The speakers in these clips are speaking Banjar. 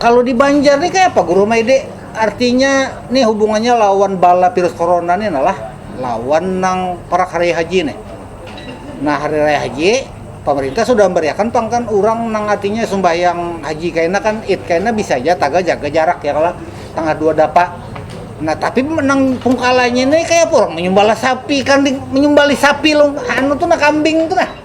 Kalo di banjar nih kaya apa guru ama ide artinya nih hubungannya lawan bala virus corona nih nah lah lawan nang parak hari raya haji nih nah hari raya haji pamarintah sudah membariakan pang kan urang nang artinya sumbahyang haji kaina kan id kaina bisa haja tagal jaga jarak ya kalo tangah dua dapa nah tapi nang pungkalanya nih kaya apa urang manyumbalah sapi kambing manyumbalih sapi anu tu nah kambing tu nah.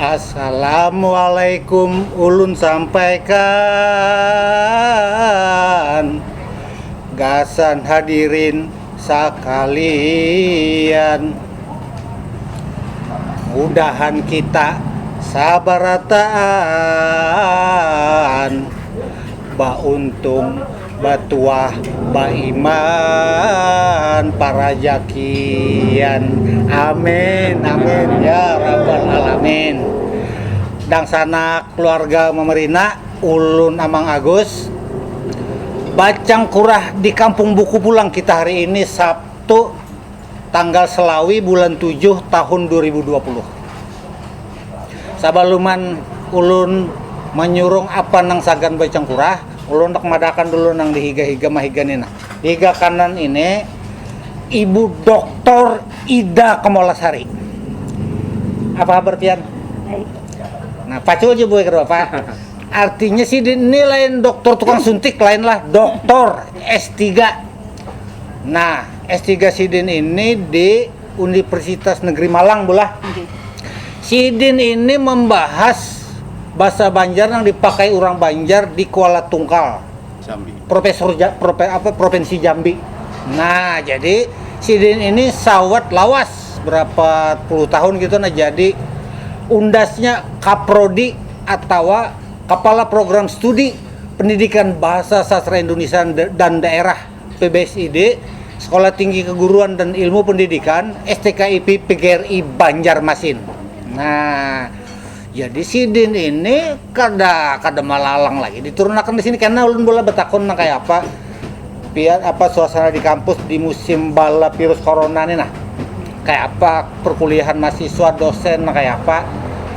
Assalamualaikum ulun sampaikan gasan hadirin sakalian mudahan kita sabarataan bauntung Batuah baiman parajakian Amin Amin ya rabbal alamin Dangsanak keluarga Mamarina ulun Amang Agus Bacang kurah di kampung buku pulang kita hari ini sabtu tanggal selawi bulan tujuh tahun dua ribu dua puluh sabaluman ulun manyurung apa nang sagan bacangkurah ulun handak madahkan dulu nang di higa higa mahiga ni nah di higa kanan ini ibu doktor ida kamolasari apa habar pian nah pacu aja buai kada papa artinya sidin ni lain doktor tukang suntik lain lah doktor s tiga nah. S tiga sidin ini di Undiprsitas Negeri Malang bulah. Sidin ini membahas basa Banjar nang dipakai urang Banjar di Kuala Tungkal, Profesor apa Provinsi Jambi. Nah, jadi sidin ini sawat lawas berapa puluh tahun gitu nah jadi undasnya Kaprodi atawa Kepala Program Studi Pendidikan Bahasa Sastra Indunisia dan Daerah. PBSID, Sekolah Tinggi Keguruan dan Ilmu Pendidikan, STKIP PGRI Banjarmasin. Nah, jadi sidin ini kada kada malalang lagi diturunakan di sini karena ulun boleh betakun nang kaya apa pian apa suasana di kampus di musim bala virus corona ni nah kaya apa perkuliahan mahasiswa dosen nang kaya apa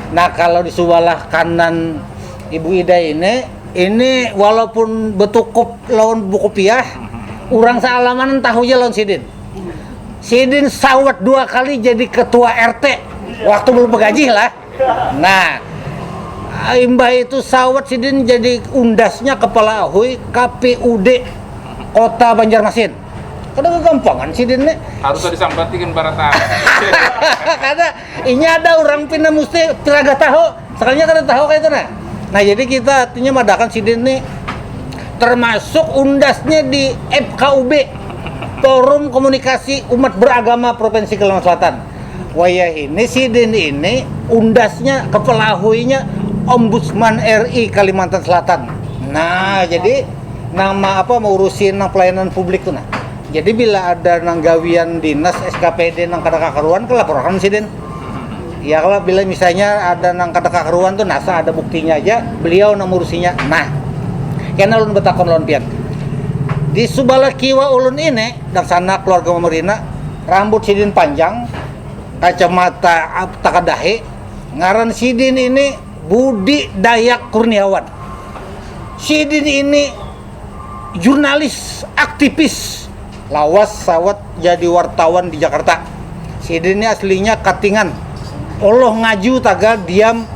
nah kalau di subalah kanan ibu ida ini Ini walaupun betukup lawan buku piah, urang saalamanan tahu ja lawan sidin. Sidin sawat dua kali jadi ketua RT waktu belum begajih lah. Nah, imbah itu sawat sidin jadi undasnya kepala ahui KPUD Kota Banjarmasin. Kada gagampangan sidin nih. Harus disampatikan barataan. Kada. Ini ada orang pina musti tiraga tahu, sekalinya kada tahu kaya itu nah. Nah jadi kita artinya madakan sidin ni termasuk undasnya di FKUB, Forum Komunikasi Umat Beragama Provinsi Kalimantan Selatan. Wayahini sidin ini undasnya, kepelahuinya Ombudsman RI Kalimantan Selatan. Nah jadi nang ma apa maurusi nang pelayanan publik tu nah. Jadi bila ada nang gawian dinas SKPD nang kada kakaruan kah lapor akan sidin. Ya kalo bila misalnya ada nang kada kakaruan tu nasa ada buktinya haja beliau nang maurusinya. Nah, kena ulun batakun lawan pian. Di subalah kiwa ulun ini dangsana keluarga Mamarina, rambut sidin panjang, kacamata takadahi, ngaran sidin ini Budi Dayak Kurniawan. Sidin ini. jurnalis, aktivis, lawas sawat jadi wartawan di Jakarta. Sida ni aslinya Katingan. Oloh ngaju tagal diam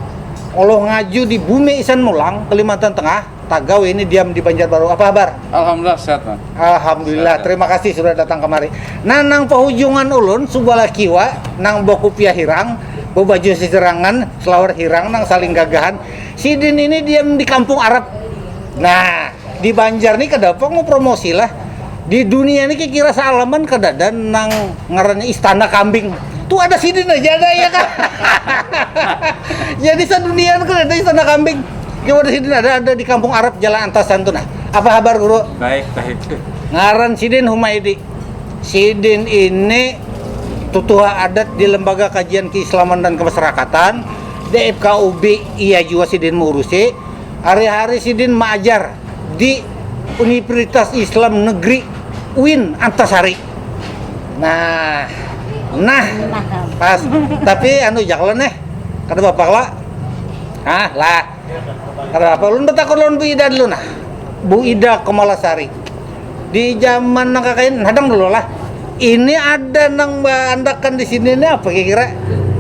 Oloh ngaju di Bumi Isan Mulang, Kalimantan Tengah, tagal ini diam di Banjarbaru. Apa habar? Alhamdulillah sehat man. Alhamdulillah, sehat, terima kasih sudah datang kemari. Nah, nang pahujungan ulun subalah kiwa, nang bakupiah hirang, babaju sisirangan, selawar hirang nang saling gagahan, Sidin ini diam di kampung Arab. Nah, di Banjar nih kada apa mau promosi lah. Di dunia ini kira sealaman kada ada nang ngarannya istana kambing. Tuh ada sidin aja ada ya kan. Jadi sedunia itu ada istana kambing. Cuma di sidin ada ada di kampung Arab Jalan Antasan tuh nah. Apa kabar guru? Baik, baik. Ngaran sidin Humaidi. Sidin ini tutuha adat di Lembaga Kajian Keislaman dan Kemasyarakatan dfkub iya jua sidin maurusi hari hari sidin maajar di univritas islam negeri uin antasari nah nah pas tapi anu ja kalo neh kada bapa kalo ha lah kada bapa ulun batakun lawan bu ida dulu nah bu ida komalasari. Di jaman nang kakaini, hadang dulu lah, ini ada nang baandakan di sini ni apa kira-kira?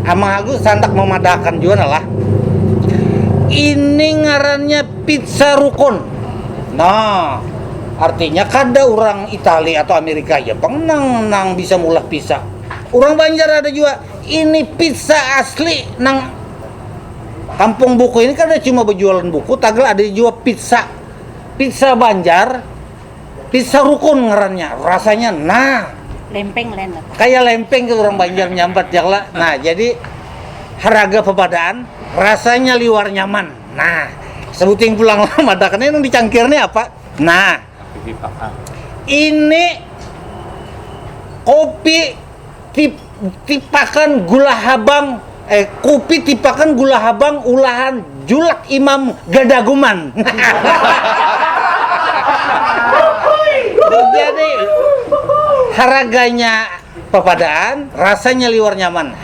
Amang Agus handak mamadahakan jua nah lah. Ini ngarannya Pizza Rukun. Nah, artinya kada urang Itali atau Amerika aja pang nang nang bisa maulah pizza. Urang Banjar ada jua. Ini pizza asli nang Kampung Buku ini kada cuma bajualan buku, tagal ada jua pizza. Pizza Banjar, pizza rukun ngarannya, rasanya nah. Lempeng lain lah. Kaya lempeng tu urang Banjar menyambat jar lah. Nah, jadi haraga pepadaan, rasanya liwar nyaman. Nah, sebuting pulang lah madakan ni nang dicangkir ni apa? Nah, ini kopi. Tip, tipakan gula habang eh kupi tipakan gula habang ulahan julak imam gadaguman jadi haraganya papadaan rasanya liwar nyaman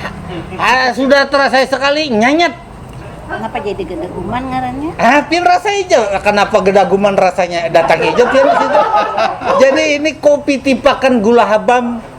ha sudah terasai sekali nyanyat Napa jadi gadaguman ngarannya? Ah, pian rasa ijo. Kenapa gedaguman rasanya datang ijo pian di situ. Jadi ini kopi tipakan gula habam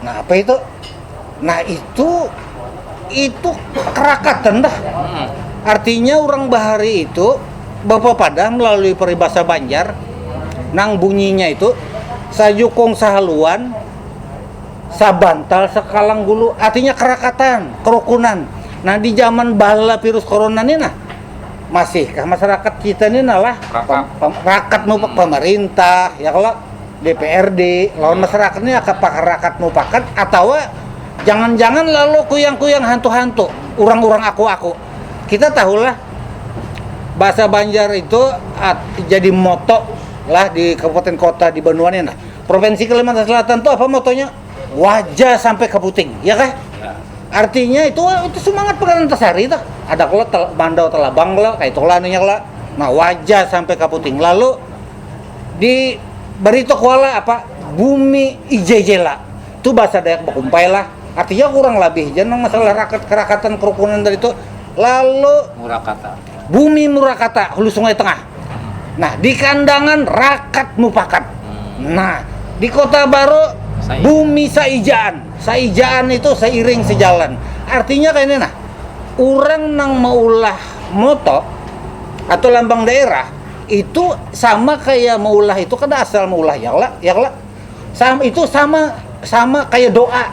Nah, apa itu? Nah, itu itu kerakatan dah. Hmm. Artinya orang bahari itu bapak pada melalui peribahasa Banjar nang bunyinya itu sajukung sahaluan sabantal sekalang gulu artinya kerakatan kerukunan nah di zaman bala virus corona ini nah masihkah masyarakat kita ini nalah rakat, rakat hmm. pemerintah ya kalau DPRD lawan masarakat ni aka pakarakat mupakat atawa jangan-jangan lalu kuyang-kuyang hantu-hantu, urang-urang aku-aku. Kita tahu lah bahasa Banjar itu jadi moto lah di kabupaten kota di banua ni nah. Provinsi Kalimantan Selatan tu apa motonya? Waja sampai ka puting, ya kah? Artinya itu itu sumangat Pangeran Antasari tuh. Ada kalo Mandau Talabang kalo kaitu kalo anunya kalo. Nah, waja sampai ka puting. Lalu. Di Barito Kuala apa Bumi Ijejela tu bahasa Dayak bakumpai lah artinya kurang labih ja nang masalah rakat karakatan karukunan tadi tu lalu Bumi Murakata Hulu Sungai Tengah nah di Kandangan rakat mupakat nah di Kota Baru Bumi Saijaan Saijaan itu seiring sejalan artinya kayani nah urang nang maulah moto atau lambang daerah. itu sama kayak maulah itu kada asal maulah ya lah ya lah sama itu sama sama kayak doa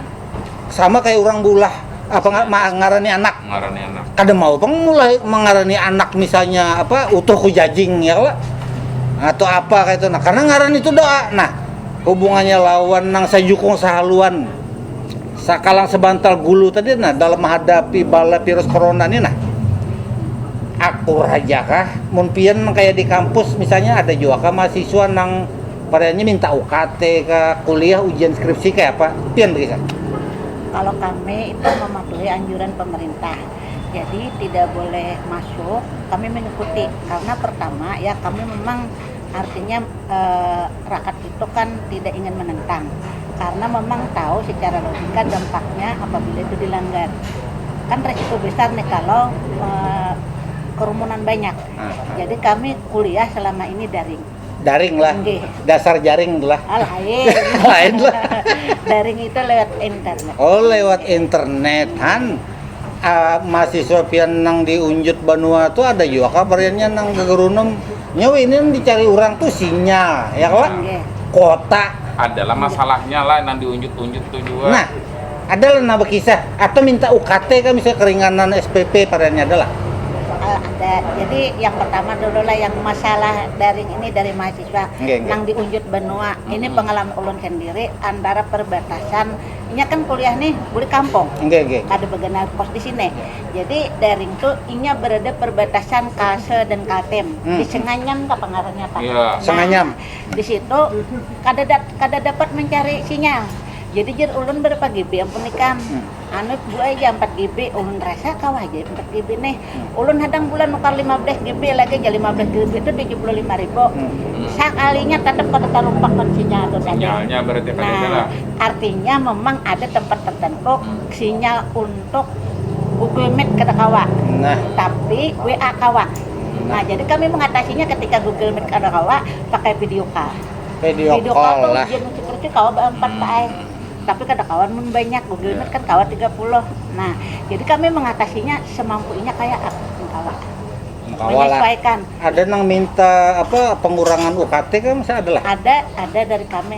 sama kayak orang bulah apa nggak mengarani anak mengarani anak kada mau pang mulai mengarani anak misalnya apa utuh kujajing ya lah atau apa kayak itu nah karena ngaran itu doa nah hubungannya lawan nang sajukung sahaluan Sakalang sabantal gulu tadi nah dalam mahadapi bala virus corona ni nah. Akur haja kah mun pian nang kaya di kampus misalnya ada jua kah mahasiswa nang pariannya minta UKT kah, kuliah, ujian skripsi kaya apa? Pian bakisah. Kalau kami itu mematuhi anjuran pemerintah jadi tidak boleh masuk kami mengikuti karena pertama ya kami memang artinya rakat Kita kan tidak ingin menentang karena memang tahu secara logika dampaknya apabila itu dilanggar. Kan resiko besar nih kalau kerumunan banyak. Jadi kami kuliah selama ini daring. Daring lah. Nggih. Dasar jaring tu lah. Ah, lain. lain lah. daring itu lewat internet. Oh, lewat internet. Han, uh, mahasiswa pian nang di Unjut Banua tu ada juga kabarnya nang ke Gerunum Nya weh ini nang dicari urang tuh sinyal ya kalo kota. Adalah masalahnya lah nang diunjut-unjut tuh jua. Nah, adalah nang bakisah atau minta UKT kah misalnya keringanan SPP padahal nya adalah. Uh, ada. Jadi yang pertama dulu lah yang masalah daring ini dari mahasiswa okay, okay. nang diunjut benua. Mm -hmm. Ini pengalaman ulun sendiri antara perbatasan nya kan kuliah nih buli kampung. Okay, okay. Kada begenal pos di sini. Jadi daring tu inya berada perbatasan Kase dan Kaltim di Senganyam kapa ngarannya pang. Iya. Senganyam. Nah, di situ kada da kada dapat mancari sinyal. Jadi jar ulun berapa GB ampun ikam. Anu Bu ai jar ampat GB. Ulun rasa kawa haja ai ampat GB nih. Ulun hadang bulan nukar lima belas GB lagi jar lima belas GB tu tujuh puluh lima ribu. Sakalinya tatap kada tarumpak wan sinyal tu tadi. Sinyalnya berarti kadada Nah, lah. artinya memang ada tempat tertentu. Sinyal untuk Google Meet kada kawa, tapi WA kawa. Nah, jadi kami mengatasinya ketika Google Meet kada kawa, pakai video call. Video call tu ujian ucuk rucuk kawa baampat pa ai, tapi kada kawa mun banyak. Google Meet kan kawa tiga puluh. Nah, jadi kami mengatasinya semampu inya kaya apa pun kawa. Menyesuaikan. Ada nang minta apa pengurangan UKT kah masih ada lah? Ada, ada dari kami.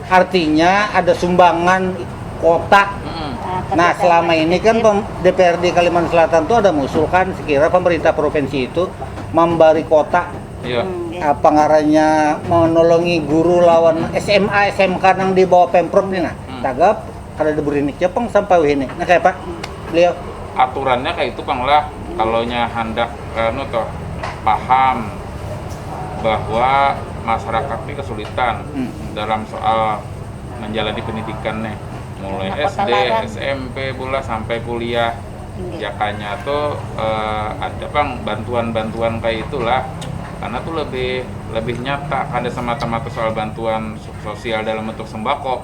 Artinya ada sumbangan kota. Nah selama ini kan DPRD Kalimantan Selatan itu ada mengusulkan sekira pemerintah provinsi itu membari kota yeah. Hmm, apa ngarannya menolongi guru lawan SMA SMK nang di bawah pemprov nih nah hmm. tagap Kada ada burinik ja pang sampai wahini. Nah kaya apa beliau? Aturannya kaya itu pang lah. Kalau nya handak anu toh paham bahwa masyarakat nih kesulitan dalam soal manjalani pendidikan nih. Mulai SD, smp pulang sampai kuliah. Jakanya tuh ada pang bantuan-bantuan kaya itu lah. Karena tuh lebih lebih nyata kada semata-mata soal bantuan sosial dalam bentuk sembako.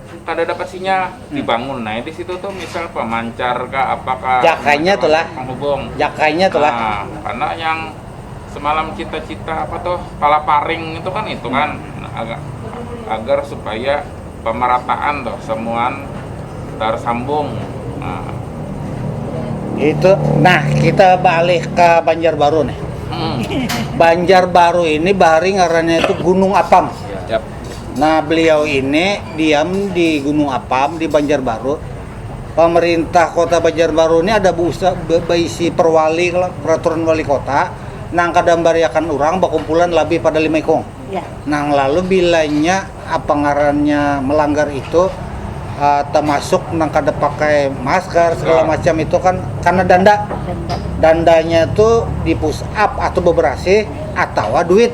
Kada dapat sinyal, dibangun ai di situ tuh misal pemancar kah apa kah. Jakainya tu lah. Penghubung. Jakainya tu lah. Nah, karena yang semalam cita-cita apa tuh palaparing itu kan itu kan agak agar supaya pemerataan tuh semuan tersambung. Nah. Itu, nah kita balik ke Banjarbaru nih. Hmm. Banjarbaru ini bahari ngarannya itu Gunung Apam. Yap. Nah, beliau ini diam di Gunung Apam di Banjarbaru. Pemerintah Kota Banjarbaru ini ada busa, baisi perwali peraturan wali kota nang kada membariakan urang bakumpulan labih pada lima ikung. Ya. Nang lalu bilanya apa ngarannya melanggar itu uh, termasuk nang kada pakai masker segala ya. macam itu kan karena danda. Danda. Dandanya itu di push up atau beberasi atau duit.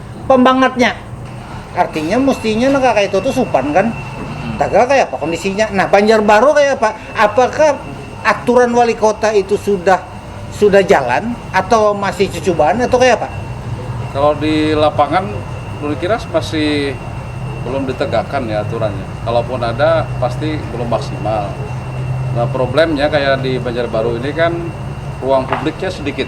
pembangatnya artinya mestinya nah kaya itu tuh supan kan hmm. tagal kaya apa kondisinya nah Banjarbaru kaya apa apakah aturan wali kota itu sudah sudah jalan atau masih cucubaan atau kaya apa kalau di lapangan dulu kira masih belum ditegakkan ya aturannya kalaupun ada pasti belum maksimal nah problemnya kayak di Banjarbaru ini kan ruang publiknya sedikit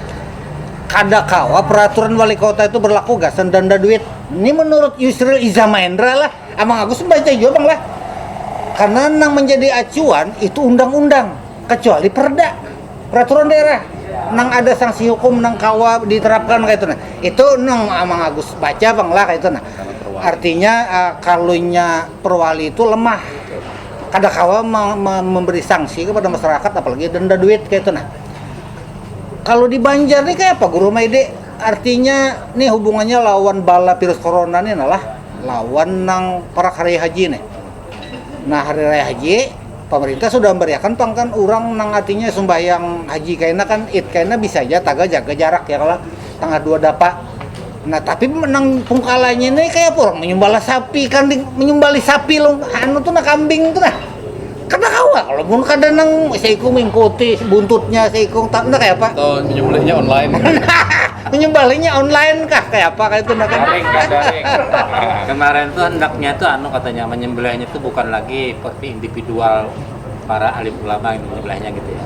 Kada kawa peraturan walikota itu berlaku gasan danda duit. Ini menurut Yusril Iza Maendra lah. Amang Agus membaca jua bang lah. Karena nang menjadi acuan itu undang-undang. Kecuali perda. Peraturan daerah. Nang ada sanksi hukum nang kawa diterapkan kaya itu nah. Itu nang Amang Agus baca bang lah kaya itu nah. Artinya uh, kalunya perwali itu lemah. Kada kawa memberi sanksi kepada masyarakat apalagi denda duit kaya itu nah. Kalau di Banjar nih kayak apa Guru Maide? Artinya nih hubungannya lawan bala virus corona nih nah lah, lawan nang parak hari haji nih. Nah hari raya haji, pamarintah sudah membariakan pang kan urang nang artinya sumbahyang haji kaina kan, id kaina bisa ja tagal jaga jarak ya kalo, tangah dua dapa. Nah tapi menang pungkalanya ini kayak apa orang menyembala sapi kan menyembali sapi lo anu tuh nah kambing tuh nah kada kawa kalau pun kada nang seikung mengikuti buntutnya seikung tak nah kayak apa atau menyembelihnya online menyembalinya online kah kayak apa kayak itu nah kan kemarin tuh hendaknya tuh anu katanya menyembelihnya tuh bukan lagi seperti individual para alim ulama yang menyembelihnya gitu ya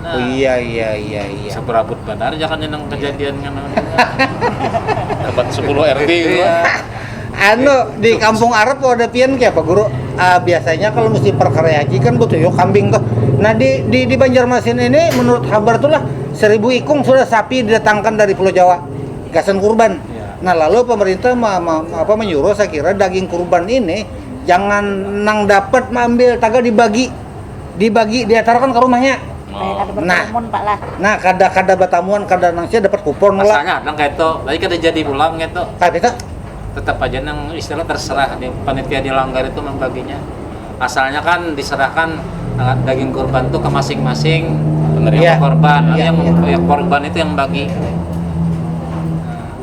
Nah, oh iya iya iya iya. Seberabut benar jangan nyenang kejadian ngana Dapat 10 RT gitu. Iya. Anu di kampung Arab ada pian kayak apa guru? Uh, biasanya kalau mesti perkara haji kan butuh yuk kambing tuh. Nah di di, di Banjarmasin ini menurut kabar tuh lah seribu ikung sudah sapi didatangkan dari Pulau Jawa gasan kurban. Iya. Nah lalu pemerintah ma, ma, apa menyuruh saya kira daging kurban ini jangan nang dapat mengambil tagal dibagi dibagi diatarakan ka rumahnya Kaya kada Nah. berkerumun pak lah. nah kada kada batamuan kada nang sia dapat kupon lah Asalnya ada kaitu, tapi kada jadi pulang kaitu. tapi tu Tetap aja nang istilah terserah di panitia di langgar itu membaginya. Asalnya kan diserahkan eh, daging kurban tuh ke masing-masing Penerima. yang Iya. korban, Iya, yang, iya. yang korban itu yang bagi.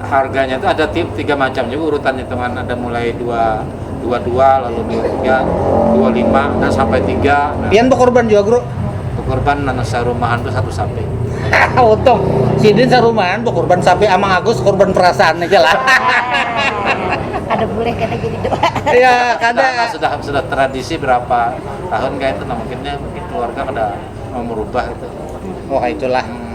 Harganya itu ada tiga macam juga urutan hitungan ada mulai dua dua dua lalu dua tiga dua lima dan sampai tiga. Nah, Pian bekorban juga, Bro? Bekorban nana sarumahan tuh satu sapi. Untung sidin sarumahan bekorban sapi amang Agus korban perasaan aja lah. ada boleh kena jadi doa. Iya, kada. Nah, sudah sudah tradisi berapa tahun kayak itu nah mungkinnya mungkin keluarga kada mau merubah itu. Oh, itulah. Hmm.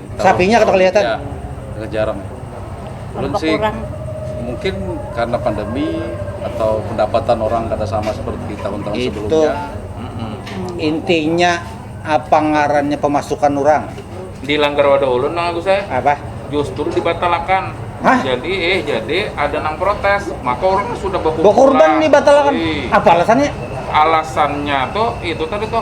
Sapinya kada kelihatan. Ya, agak jarang. Ulun sih mungkin karena pandemi atau pendapatan orang kada sama seperti tahun-tahun itu sebelumnya. Hmm. Intinya apa ngarannya pemasukan orang? Di langgar wadah ulun nang aku saya. Apa? Justru dibatalakan. Hah? Jadi eh jadi ada nang protes, maka orang sudah berkurban. Berkurban dibatalakan. Apa alasannya? Alasannya tuh itu tadi tuh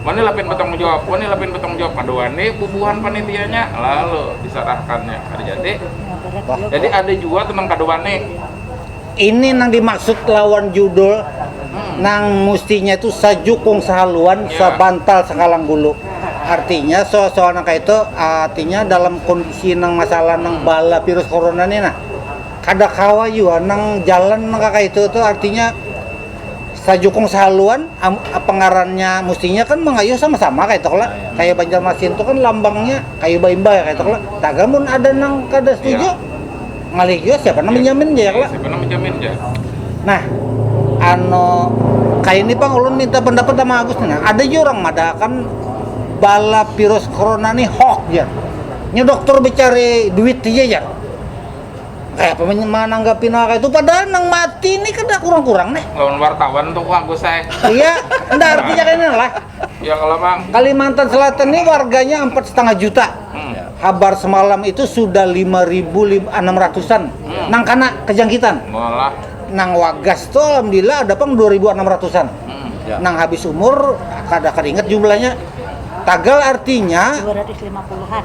Wani lapin batanggung jawab, wani lapin batanggung jawab kada wani bubuhan panitianya lalu disarahkannya kada jadi. Jadi ada jua tu nang kada wani. Ini nang dimaksud lawan judul hmm. nang mustinya itu sajukung sahaluan yeah. sabantal sakalang gulu artinya soal-soal nang kayak itu artinya dalam kondisi nang masalah nang bala virus corona ini nah kada kawa juga nang jalan nang kayak itu tuh artinya Sajukung sahaluan am apa ngarannya mustinya kan mangayuh sama-sama kaytu kala, kaya Banjarmasin tu kan lambangnya kayu baimbay kaytu kala, tagal mun ada nang kada setuju ngalih jua siapa nang manjamin jar kalo. Nah anu kaya ni pang ulun minta pandapat ama Agus ni nah, ada jua urang madahkan bala virus corona ni hoax jar, nya doktor bacari duit haja jar. Kaya apa mananggapi nang kaya itu padahal nang mati ini kada kurang-kurang nih. Lawan wartawan tuh bagus ay. Iya, nda artinya kaya ini lah. Ya kalau bang. Kalimantan Selatan ini warganya empat setengah juta. Hmm. Habar semalam itu sudah lima ribu enam ratusan hmm. nang kena kejangkitan. Malah. Nang wagas tuh alhamdulillah ada pang dua ribu enam ratusan. Hmm. Ya. Nang habis umur kada keringet jumlahnya. Tagal artinya 250-an.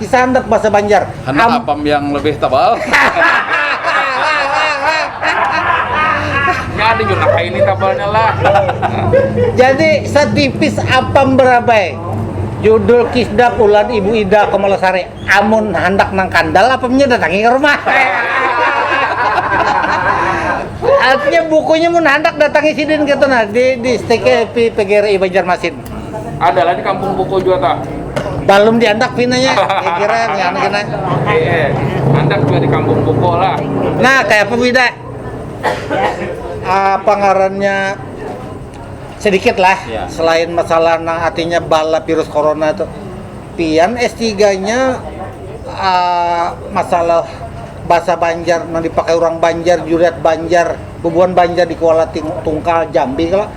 Kisah handak bahasa banjar. Handak Am apam yang lebih tebal. Jadi juga kayak ini tebalnya lah. Jadi setipis apam berabai. Judul kisdah ulan ibu Ida Kamalasari. Amun handak nang kandal apamnya datangi ke rumah. Artinya bukunya mun handak datangi sidin gitu nah di di stiki PGRI Banjarmasin. Ada lah di kampung buku juga tak. Balum diandak pinanya, ya kira ya anak kena. Eh, andak juga di kampung buku lah. Nah, kayak apa bida? Uh, pangarannya sedikit lah ya. selain masalah nang artinya bala virus corona itu pian S3-nya uh, ah, masalah bahasa Banjar nang dipakai orang Banjar, juriat Banjar, bubuhan Banjar di Kuala Tungkal Jambi kalau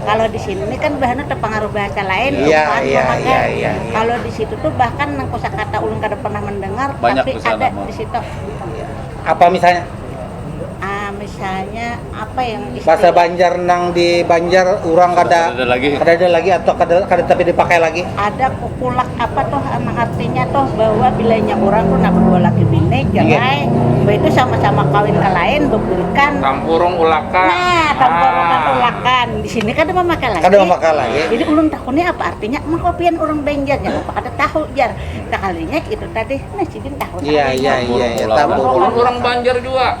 Kalo di sini nih kan buhannya tapangaruh bahasa lain, iya, buhan iya, memakai. Iya, iya, iya. Kalo di situ tuh bahkan nang kosakata ulun kada pernah mendengar, Banyak tapi ada mah. di situ. Iya. Apa misalnya? Ah, misalnya apa yang istilah? Bahasa Banjar nang di Banjar orang kada ada lagi. Kada ada lagi atau kada kada tapi dipakai lagi? Ada kok Kulak apa tuh emang artinya tuh bahwa bila inya urang tuh nah berdua laki bini jangai mbah itu sama-sama kawin ke lain beburikan tampurung ulakan nah tampurung ah. ulakan di sini kada memakai lagi kada memakai lagi jadi ulun takuni apa artinya emang kau pian urang banjar jangan apa kada tahu jar sekalinya itu tadi nah sidin tahu iya iya iya, iya. tampurung urang banjar juga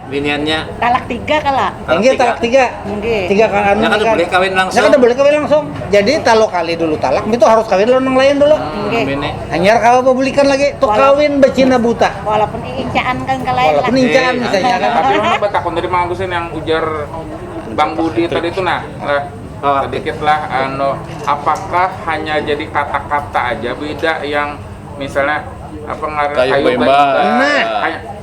biniannya talak tiga kala enggak talak tiga enggak tiga kan anu kan boleh kawin langsung kan boleh kawin langsung jadi talo kali dulu talak itu harus kawin lawan yang lain dulu enggak hanyar kau apa bulikan lagi tuh kawin becina buta walaupun incaan kan kalain walaupun incaan bisa ya kan tapi mana batakun tadi mang Agusin yang ujar bang Budi tadi itu nah lah sedikit lah anu apakah hanya jadi kata-kata aja beda yang misalnya apa ngaran kayu bemba nah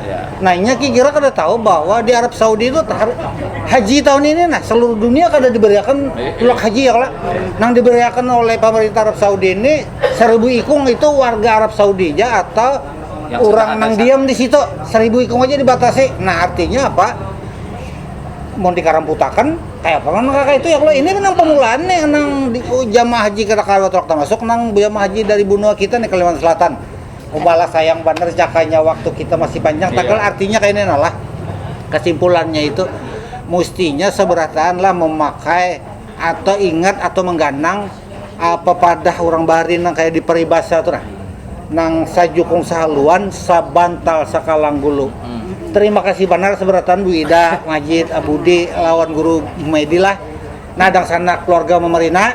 Ya. Nah, inya kira kada tahu bahwa di Arab Saudi itu haji tahun ini nah seluruh dunia kada diberiakan eh, eh. tulak haji ya kalau nang diberiakan oleh pemerintah Arab Saudi ini seribu ikung itu warga Arab Saudi aja atau yang orang nang diam di situ seribu ikung aja dibatasi. Nah, artinya apa? Mau dikaramputakan kayak apa nang kakak itu ya kalau ini nang pemulaan nih nang di, oh, jamaah haji kita kalau termasuk nang jamaah haji dari benua kita nih Kalimantan Selatan Ubalah sayang banar jakanya waktu kita masih panjang. Tagal iya. artinya kayak ini lah. Kesimpulannya itu mustinya seberataan lah memakai atau ingat atau mengganang apa padah orang bahari nang kayak di peribasa tuh nah. Nang sajukung sahaluan sabantal sakalang gulu. Hmm. Terima kasih banar seberataan Bu Ida, Majid, Abudi, lawan Guru Medi lah. Nadang sana keluarga memerina.